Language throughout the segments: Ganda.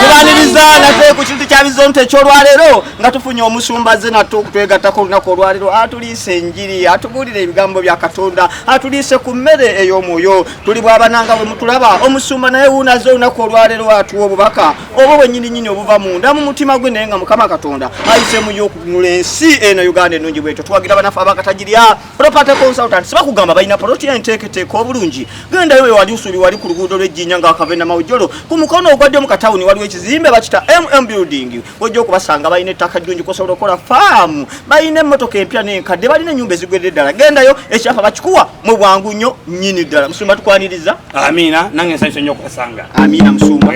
tubaniriza nate ku kintu kya bizonto ekyolwaleero nga tufunye omusumba ze nate okutwegattako olunaku olwaleero atuliise enjiri atubuulire ebigambo bya katonda atuliise ku mmere ey'omwoyo tuli bwabananga bwe mutulaba omusumba naye wuunaze olunaku olwaleero atuwa obubaka obwo bwenyininyini obuva munda mu mutima gwe naye nga mukama katonda ayisemu yo okunula ensi eno uganda enungi bwetyo tuwagira banafe abakatagirya property consultants bakugamba balina poloti ya enteeketeeka obulungi gendayo we wali usubi wali ku luguudo lw'ejjinja nga wakavenda mawujolo ku mukono ogwaddyo mu katawuni waliwo ekizimbe bakita mm building wojja okubasanga balina ettaka ddungi kosobola okukola faamu balina emmotoka empya n'enkadde balina ennyumba ezigwedde ddala gendayo ekyapa bakikuwa mu bwangu nnyo nnyini ddala musumba tukwaniriza amiina nange nsanyusa nnyo okubasanga amiina musumba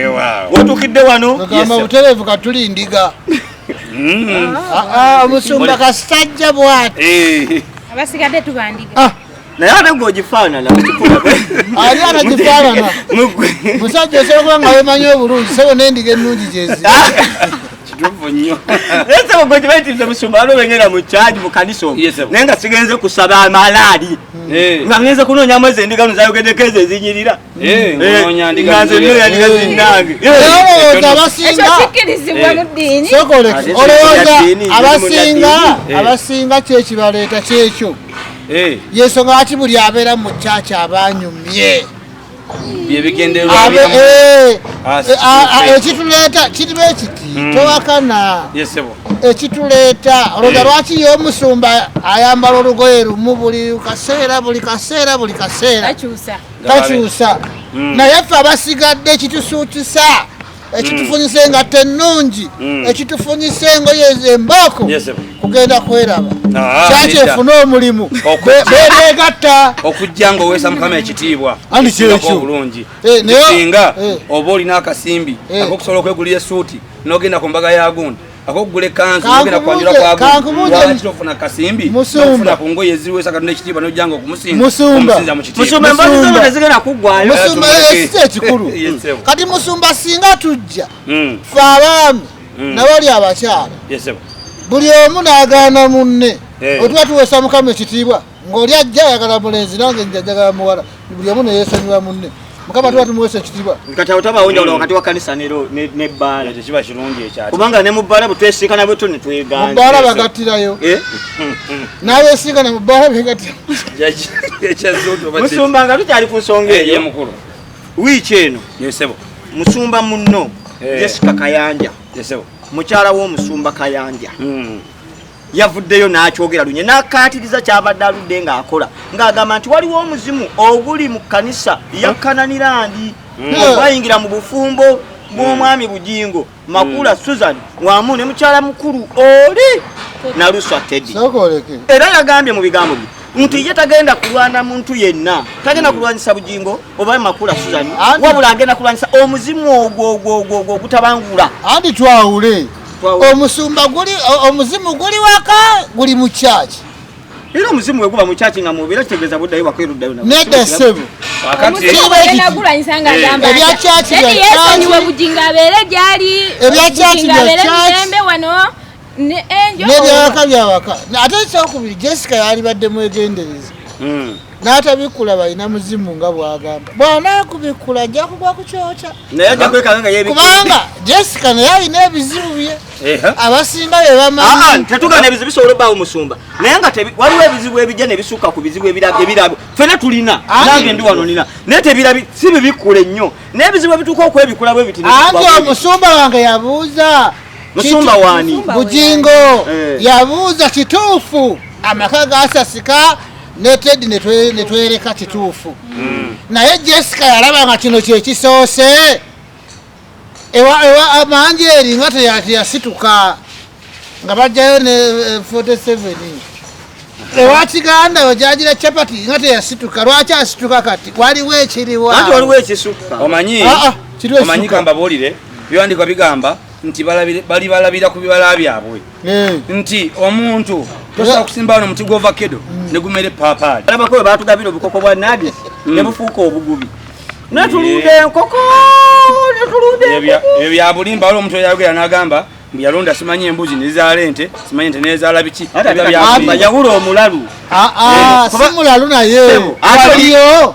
wotuukidde wano butereevu katuli ndiga Mm. Ah, ah, omusumba kasajja bwati eh. abasigadde tubandiga ah. naye ate gwe ogifaanana ani anagifaanana musajja osobola kuba nga wemanyi obulungi sebo nendiga ennungi gyezi kituufu nnyo naye sebo gwe kibaitiriza musumba alo bengenda mu kyagi mu kanisa omu naye nga sigenze kusaba amalaali eh. nga ngenze kunoonya mwezi endiga nozayogedeko ezo ezinyirira abasinga kyekibaleeta kyekyo eh. yensonga lwaki buli abeera mu kyaki abanyumye ekituleeta eh, eh, kiriba ekiti hmm. towakana ekituleeta olowooza hmm. lwaki ye omusumba ayambala olugoye lumu buli kaseera buli kaseera buli kaseera takyusa mm. naye ffe abasigadde ekitusuutusa ekitufunyisa mm. engatta ennungi mm. ekitufunyisa engoye embooko kugenda kweraba ah, kyaki efune omulimu bebegatta okujja nga oweesa mukama ekitiibwa obulungi eh, singa eh. oba olina akasimbi eh. akokusobola okwegulira esuuti nogenda ku mbaga ya gundi akokugula ekanzu ogenda kwanjula kwagoofuna kasimbi ofuna ku ngoye eziwesa katonda ekitiibwa nojja nga okumusinzaomusinza mu kitiibwaezigenda kuggwayo ekikulu kati musumba singa tujja hmm. fe abaami hmm. nabali abakyala buli omu nagaana munne eh. otuba tuwesa mukama ekitiibwa ng'oli ajja ayagala mulenzi nange nja njagala muwala buli omu neyesanyula munne mukama tuba tumuwesa ekitibwa kati awo tabawo njawulo wakati wa kanisa nebbaala tekiba kirungi ekyati kubanga ne mubbaala bwetwesinkana bwetu netweganze mubbaala bagattirayo eh? nabesinkana mubbaala begattira musumba nga tukyali ku nsonga eh, eyo mukulu wiiki eno yesebo musumba munno eh. jessica kayanja yesebo mukyala w'omusumba kayanja hmm. yavuddeyo n'akyogera lunye n'akkaatiriza kyabadde aludde ng'akola ng'agamba nti waliwo omuzimu oguli mu kkanisa ya kananirandi hmm. ogwayingira mu bufumbo bw'omwami hmm. bugingo makula hmm. susan wamu ne mukyala mukulu oli naluswa tedi era yagambye mu bigambo bye nti ye tagenda kulwana muntu yenna tagenda kulwanyisa bugingo oba makula suzani wabula agenda kulwanyisa omuzimu ogwo ogwo ogwo ogutabangula andi twawule omusumba guli omuzimu guli waka guli mu church era omuzimu bwe guba mu church nga mubeera kitegeeza buddayo bakwiruddayo nedda ssebo ebya church nebyawaka byawaka ate ekyokubiri jessica yalibadde mwegendereza hmm. n'atabikkula balina muzimu nga bwagamba bwanakubikkula ajja kugwa ku kyokya kubanga jessica naye alina ebizibu bye abasinga be bamanyitetugana ah, ah, ebizibu bisobola obawo musumba naye nga waliwo ebizibu ebijja ne bisukka ku bizibu ebirabo fena tulina nange ndi wano nina naye tebirabi si bibikkula ennyo naye ebizibu ebituuka okwebikula bwe biti anti omusumba wange yabuuza musumba wani bujingo eh. yabuuza kituufu amaka gasasika ne tedi netwereka kituufu hmm. naye jessica yalaba nga kino kyekisoose amanji eri nga teyasituka nga bajjayo ne 47 eh, ewa kiganda yo gyagira capati nga teyasituka lwaki asituka kati waliwo ekiriwa waliwo ekisukka omanyi ah, ah, omanyi kambabuulire byewandikwa bigamba nti bali balabira ku bibala byabwe eh. nti omuntu tosobola eh. kusimba wano omuti gwovakedo mm. ne gumere epaapaali alabako we batugabira obukoko bwa nadi mm. ne bufuuka obugubi netulunda enkoko netulunda ebyo byabulimba wali omuntu eyayogera n'agamba yalonda simanyi embuzi nezaala ente simanyi nte nezaala biki yawula omulalu ah, ah, eh, simulalu naye aliyo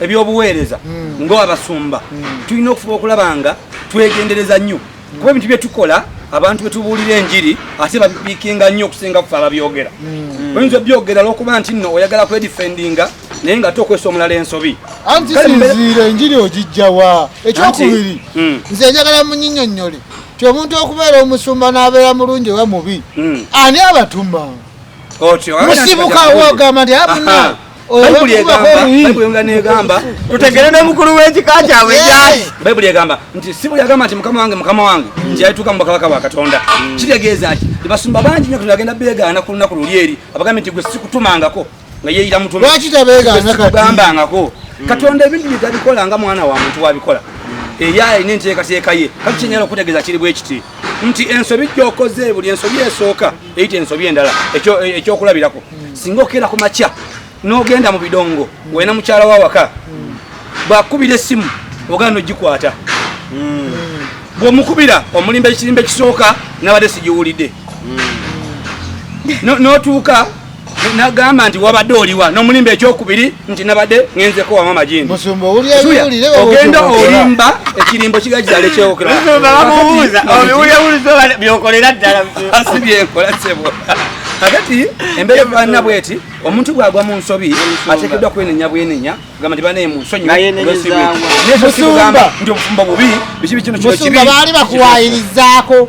ebyobuweereza hmm. ng'abasumba hmm. tulina okufuba okulaba nga twegendereza nnyo kuba ebintu bye tukola abantu bwe tubuulira enjiri ate babipiikinga nnyo okusinga kufe ababyogera hmm. oyinza obyogera lwokuba nti nno oyagala kwedifendinga naye nga tokwesa omulala ensobi anti sinziira enjiri ogijjawa ekyokubiri nze njagala munyinyonnyole ti omuntu okubeera omusumba n'abeera mulungi oba mubi ani abatuma musibuka wogamba nti abuna Bayibuli egamba, Bayibuli nga negamba, tutegere ne mukulu w'ekika kyabwe kyaki. Bayibuli egamba nti si buli agamba nti mukama wange mukama wange nti yalituuka mu bakabaka bwa Katonda. Mm. Kitegeeza ki? Basumba bangi nnyo Katonda agenda beegaana ku lunaku luli eri abagambye nti gwe sikutumangako nga yeeyira mutume. Lwaki tabeegaana kati? Gambangako. Mm. Katonda ebintu bye tabikola nga mwana wa muntu wabikola. Mm. Eya alina enteekateeka ye. Kati kyenyala okutegeeza kiri bwe kiti nti ensobi gy'okoze buli ensobi esooka eyita ensobi endala ekyokulabirako singa okeera ku makya n'ogenda mu bidongo wena mukyala wa waka bwakubira essimu ogana nogikwata hmm. bwomukubira omulimba ekirimba ekisooka nabadde sigiwulidde hmm. notuuka nagamba nti wabadde oliwa nomulimba ekyokubiri nti nabadde ngenzeko wama majini ogenda olimba ekirimbo kiga kizala ekyokolaasibyenkola sebo kakati embeera efaanana bweti omuntu bwagwa mu nsobi ateekeddwa kwenenya bwenenya gamba nti banaye mu nsonyimusumba nti obufumbo bubi biki bikino kino kibi baali bakuwayirizaako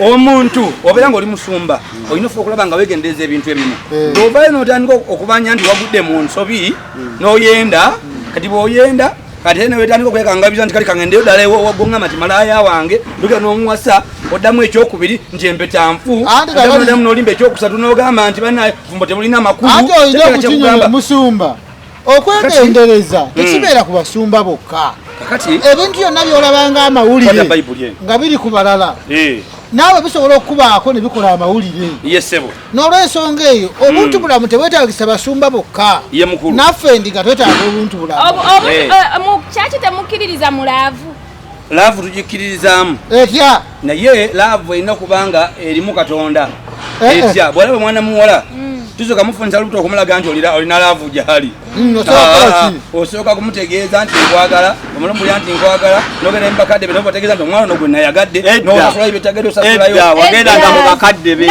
omuntu obeera ngaoli musumba olina ofuba okulaba nga wegendereza ebintu ebimu eh. ovayo notandika okubanja nti wagudde mu nsobi hmm. noyenda hmm. kati bwoyenda kati ene wetandika okwekangabiza nti kali kangendeyo ddala ewagonga mati malaaya wange ndugira nomuwasa oddamu ekyokubiri nti empeta nfu damu nolimba ekyokusatu nogamba nti banaye fumbo tebulina makulu okwegendereza hmm. tekibeera ku basumba bokka ebintu byonna byolabanga amawulire nga biri ku balala eh. naawe bisobola okukubaako ne bikola amawulire n'olwensonga eyo hmm. obuntu bulamu tebwetagisa basumba bokka naffe ndiga twetaaga obuntu bulamu eh. Eh, kyaki temukkiririza mulaavu laavu tugikkiririzaamu etya naye laavu erina kubanga erimu katonda eh, eh. etya bwalaba mwana muwala mm. tusoka mufunisa lubuto okumulaga nti olina laavu gyali mm, ah, osooka kumutegeeza nti nkwagala omulomulya nti nkwagala nogenda mubakadde be nobategeeza nti omwana ono gwe nayagadde nosulayo byetagadde osasulayo wagendanga mubakadde be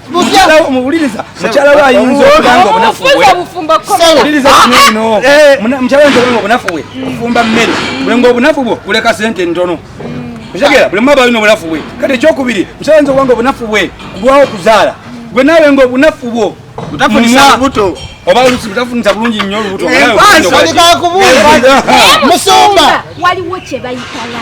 muwuliriza mukyala we ayinza okuba nga obunafu bwewuliriza kino ah, eh. mukyala ayinza okuba nga obunafu bwe ofumba mmere bwe nga obunafu bwo kuleka sente ntono okitegera buli mumaba alina obunafu bwe kati ekyokubiri mukyala ayinza okuba nga obunafu bwe kulwawo okuzaala gwe naawe nga obunafu bwo mutafunisa lubuto oba olusi mutafunisa bulungi nnyo olubuto musumba waliwo kyebayitala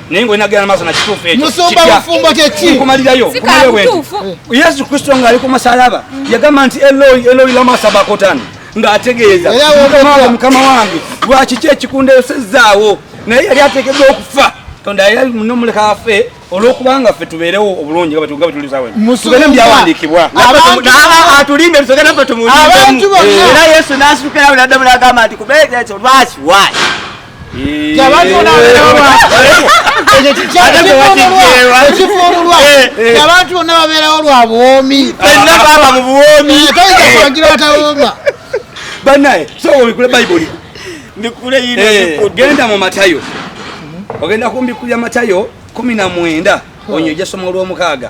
naye nga olina genda maaso na kituufu ekyo musumba bufumbo kyeki nkumalirayo nkumalirayo bwe yesu kristo ng'ali ku musalaba yagamba nti eloi eloi lama sabakotani ng'ategeeza mukama wange lwaki ki ekikundeesezzaawo naye yali ateekeddwa okufa tonda era nomuleka afe olwokubanga ffe tubeerewo obulungi nga batuga bwetulisawetubeere mubyawandiikibwa atulimbe tusoke naffe tumuera yesu nasukirawo nadda mulagamba nti kubeera ekyo lwaki waki abantu bonna babeerawo lwa buwoomi baaba mu buwoomi toyinzakubagira batawooma banaye sowobikule bayibuli mbikule yino eh, genda mu matayo ogenda kumbikulira matayo kumi na mwenda onyo ejasoma olwomukaaga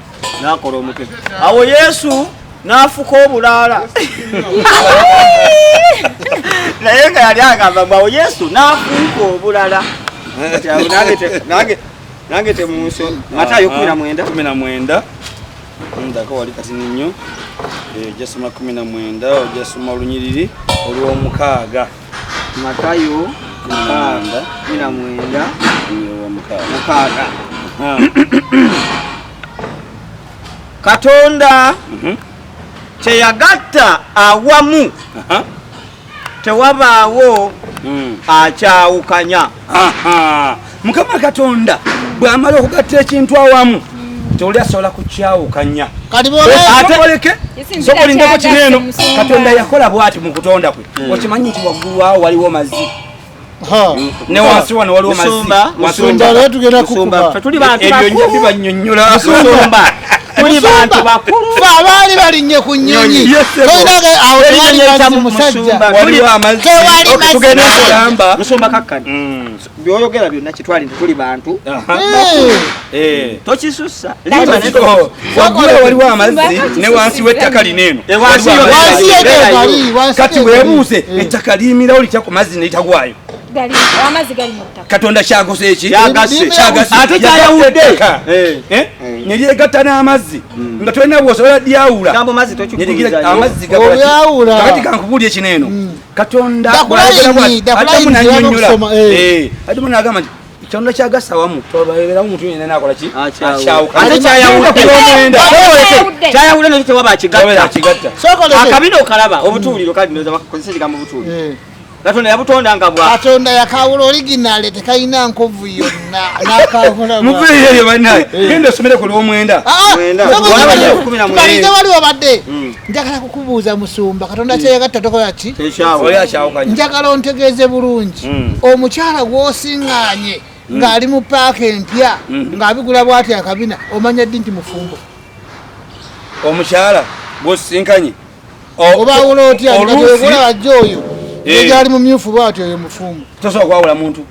nakola omutwe awo yesu nafuka obulaala naye nga yali agamba mbu awo yesu nafuuka obulala nange temunso matayo kumi na mwenda kumi na mwenda ndako wali kati ninyo ojasoma eh, kumi na mwenda ojasoma olunyiriri olwomukaaga matayo mukaaga mina mwenda mukaaga katonda mhm. kyeyagatta awamu tewabaawo hmm. akyawukanya mukama katonda bwamala okugatta ekintu awamu tewuli asobola kukyawukanya ateoleke sokolindeko kiri eno katonda yakola bwati mu kutonda kwe hmm. okimanyi nti waggulu awo waliwo mazzi ne wansi wano waliwo mazziebyoyabibanyonyolasumba tuli bantu bakulu fe abaali balinye ku nyonyi toyinage awo tewali mazzi musajja tewali mazzi tugende kulamba musumba kakkani hmm. byoyogera byonna kitwali nti tuli bantu eh. tokisussa waliwo amazzi ne wansi w'ettaka lino eno kati webuuse eh. ettaka liyimirawo litya ku mazzi netagwayo katonda kyagose eki ate kyayawudde eh. neryegatta n'amazzi hmm. nga tolina bwosobola lyawula amazzi gakati kankubuulya ekino eno hmm. katonda bwayogeraadamu eh. nagamba nti kyonna kyagasa wamu twababeera omuntu yenna nakola ki akyawukaate kyayawude nakyo tewaba akigatta akabina okalaba obutuuliro kali ndoza bakozesa ekigambo butuuliro eh. katonda yabutonda nga bwa katonda yakawula originale tekalina nkovu yonna nakawulamuveeyo eyo banaye eh. genda osomere ku lwomwenda ah, ah, waliwo badde hmm. njagala kukubuuza musumba katonda hmm. kyeyagatta tokola ki njagala ontegeeze bulungi hmm. omukyala gwosinganye hmm. ng'ali mu paaka empya ng'abigula bwati akabina omanya ddi nti mufumbo omukyala gwosisinkanye obaawula otya olabajja oyo eh. egyali mumyufu bwati oyo mufumbo tosobola kwawula muntu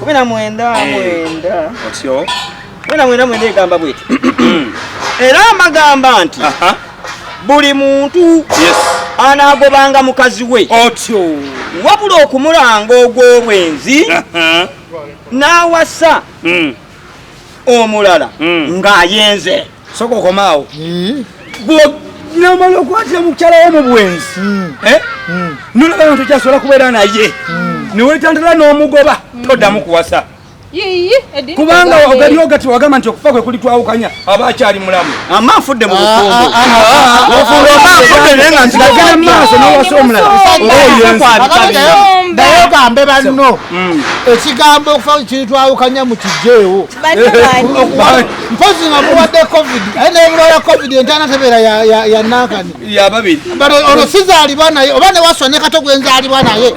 kumi na mwenda eh, mwenda otyo kumi na mwenda mwenda egamba bweti era amagamba nti buli muntu anaagobanga mukazi we otyo wabula okumulanga ogw'obwenzi n'awasa hmm. omulala hmm. ng'ayenze soka okomaawo namala okwatira mukyala wo mu bwenzi hmm. eh? hmm. nolaba bantu kyasobola kubeera naye hmm. newetandala n'omugoba toddamu kuwasa kubanga ogaliwo gati wagamba nti okufa kwe kuli twawukanya aba akyali mulamu ama afudde mu bufungomaafuddenengamaaso nowasa omulalaogambe banno ekigambo okufa kiri twawukanya mu kijeewo mpozi nga muwadde covid aye naye mulwala covid entaana tebeera yanankani yababiri olwo sizaalibwa naye oba newaswa ne kato gwenzaalibwa naye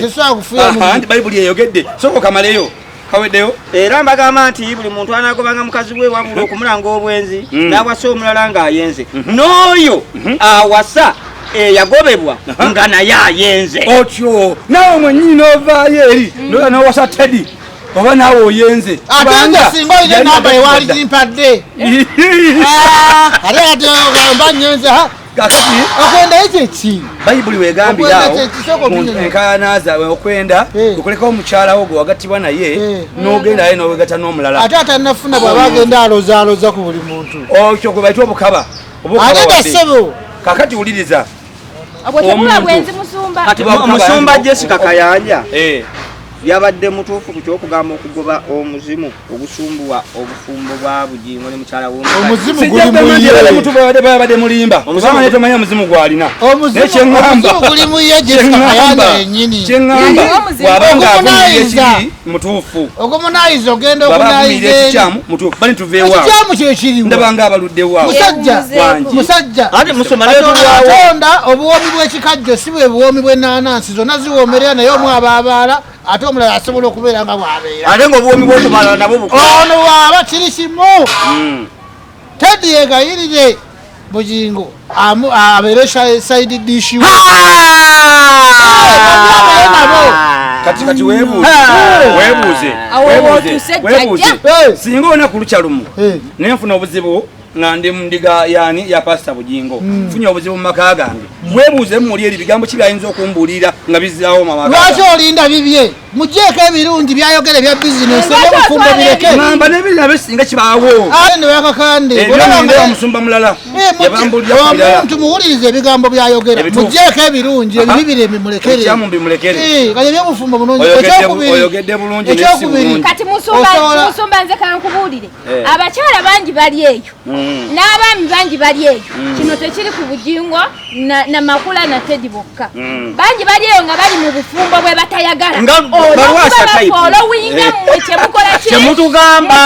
tesobola kufuyabayibuli eyogedde soka okamaleyo kaweddeyo era mbagamba nti buli muntu anagobanga mukazi we wabula okumulanga obwenzi mm. n'awasa omulala ng'ayenze mm-hmm. n'oyo mm-hmm. awasa eyagobebwa nga naye ayenze otyo nawe mwenyini novaayo eri mm. nola nowasa teddy oba naawe oyenze atenda singa olina enamba ewaali kimpadde ate atgamba nyenze kakati okwendayo kyeki bayibuli wegambirawo enkaana zaabwe okwenda eh. okulekawo omukyala wo gwe wagattibwa naye eh. nogendayo nowegata n'omulala ate atanafuna bwaba agenda alozaaloza ku buli muntu okyo gwe baita obukaba obukaba kakati wuliriza omusumba jessica kayanja eh. yabadde mutuufu ku kyokugamba okugoba omuzimu ogusumbuwa obufumbo bwa bugingo ne mukyala womubadde mulimba omusanga tomanya omuzimu gwalina nekyeŋamba kyeŋamba wabanga avunaye ekibi mutuufu ogomunayiza ogenda ogunayizaekikyamu mutuufu bali tuveewakikyamu kyekiriwo ndabanga abaluddewa musajja musajja ate musoma nayeatonda obuwoomi bwekikajjo si bwe buwoomi bwenanansi zonna ziwoomerera naye omu abaabaala ate omulala asobola okubeera nga bwabeera ate nga obuwoomi bwokubaala nabwo ono waaba kiri kimu hmm. Teddy yegayirire Bugingo abeere side dish we. Kati kati webuuze webuuze webuuze singa ona ku lukya lumu ne nfuna obuzibu nga ndi mundiga yani ya pasta bujingo mm. funya obuzibu mumaka gange mwebuuze mumuli eri bigambo ki byayinza okumbuulira nga bizaawo mamaka lwaki olinda bibye mujeeko ebirungi byayogera ebya bizinesi ebyobufumbo bireke mamba nebirina besinga kibaawo aye ne bakakande olabanga omusumba mulala omuntu eh, muwuliriza ebigambo byayogera mujeeko ebirungi ebibi birembe mulekere eh, kati ebyobufumbo bulungi ekyokubiri kati musumba nze kankubuulire eh. abakyala bangi bali eyo Mm. n'abaami bangi bali eyo mm. kino tekiri ku bujingo na makula na tedi bokka mm. bangi bali eyo nga bali mu bufumbo bwe batayagala olowinga mmwe kyemukolakyemutugamba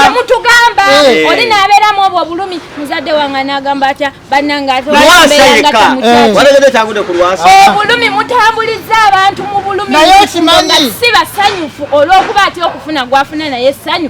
eh. oli nabeeramu obwo obulumi muzadde wange nagamba atya bannange ateobulumi eh. mutambuliza abantu mu bulumi si basanyufu olw'okuba atya okufuna gwafuna naye essanyu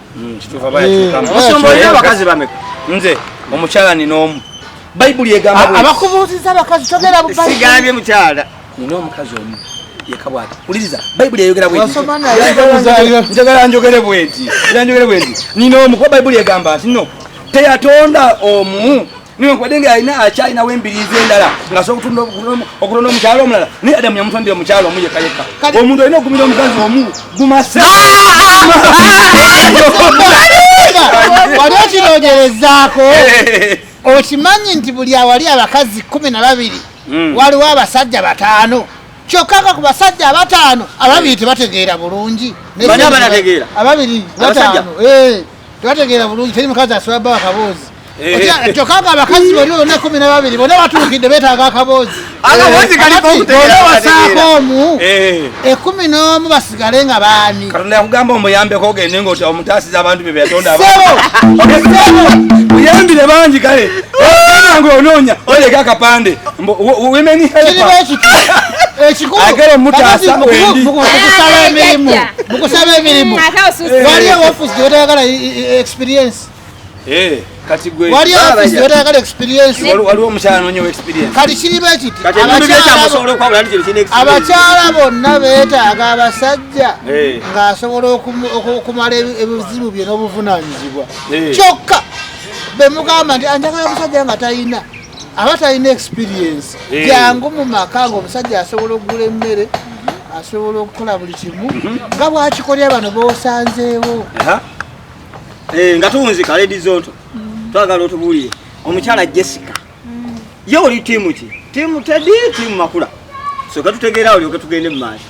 Mm, Musumba olina abakazi bameka? Nze omukyala nina omu. Bayibuli egamba abakubuuziza abakazi togera bubayibuli. Sigambye mukyala. Nina omukazi omu. Yeka bwati. Uliriza Bayibuli eyogera bweti. Wasoma na yogera. Njagala njogere bweti. Njagala njogere bweti. Nina omu kwa Bayibuli egamba nti no. Teyatonda omu newankubadde nga alina akyalinawo embiriizi endala ngasobola okutunda okulonda omukyalo omulala naye adamu yamutondera omukyalo omu yekka yekka omuntu alina okumira omukazi omu gumase wali okinogerezaako okimanyi nti buli awali abakazi kumi na babiri hmm. waliwo abasajja bataano kyokka nga ku basajja abataano ababiri tebategeera bulungi ababiri bataano eh. tebategeera bulungi teri mukazi asobola bawa kaboozi eh. kyokka nga abakazi bali bona kumi nababiri bona batuukidde betaaga akaboozi wasaako eh. omu ekumi eh. n'omu basigale nga baani katonda yakugamba omuyambeko ogende nga omutaasiza abantu bye beyatondamuyambire bangi kale nga onoonya oleka akapande women help ekikulu agere mutaasa wendi mukusaba emirimu mukusaba emirimu waliyo wafusi gyewetayagala experience eh, waliyo wafusi gyewetayagala experiensewaliwo omukyala nonyo experience kati kiriba ekiti abakyala bonna betaaga abasajja eh. ng'asobola okumala ebizibu bye n'obuvunanyizibwa eh. kyokka bemugamba nti anjagala omusajja nga talina aba talina experience eh. jangu mu maka nga omusajja asobola okugula emmere asobola okukola buli kimu mhm. nga bwakikolera bano bosanzeewo eh, nga tuwunzika ledi zonto mm. twagala otubuulire omukyala jessica mm. ye oli tiimu ki tiimu tedi tiimu makula soka tutegeera olyoke tugende mu maaso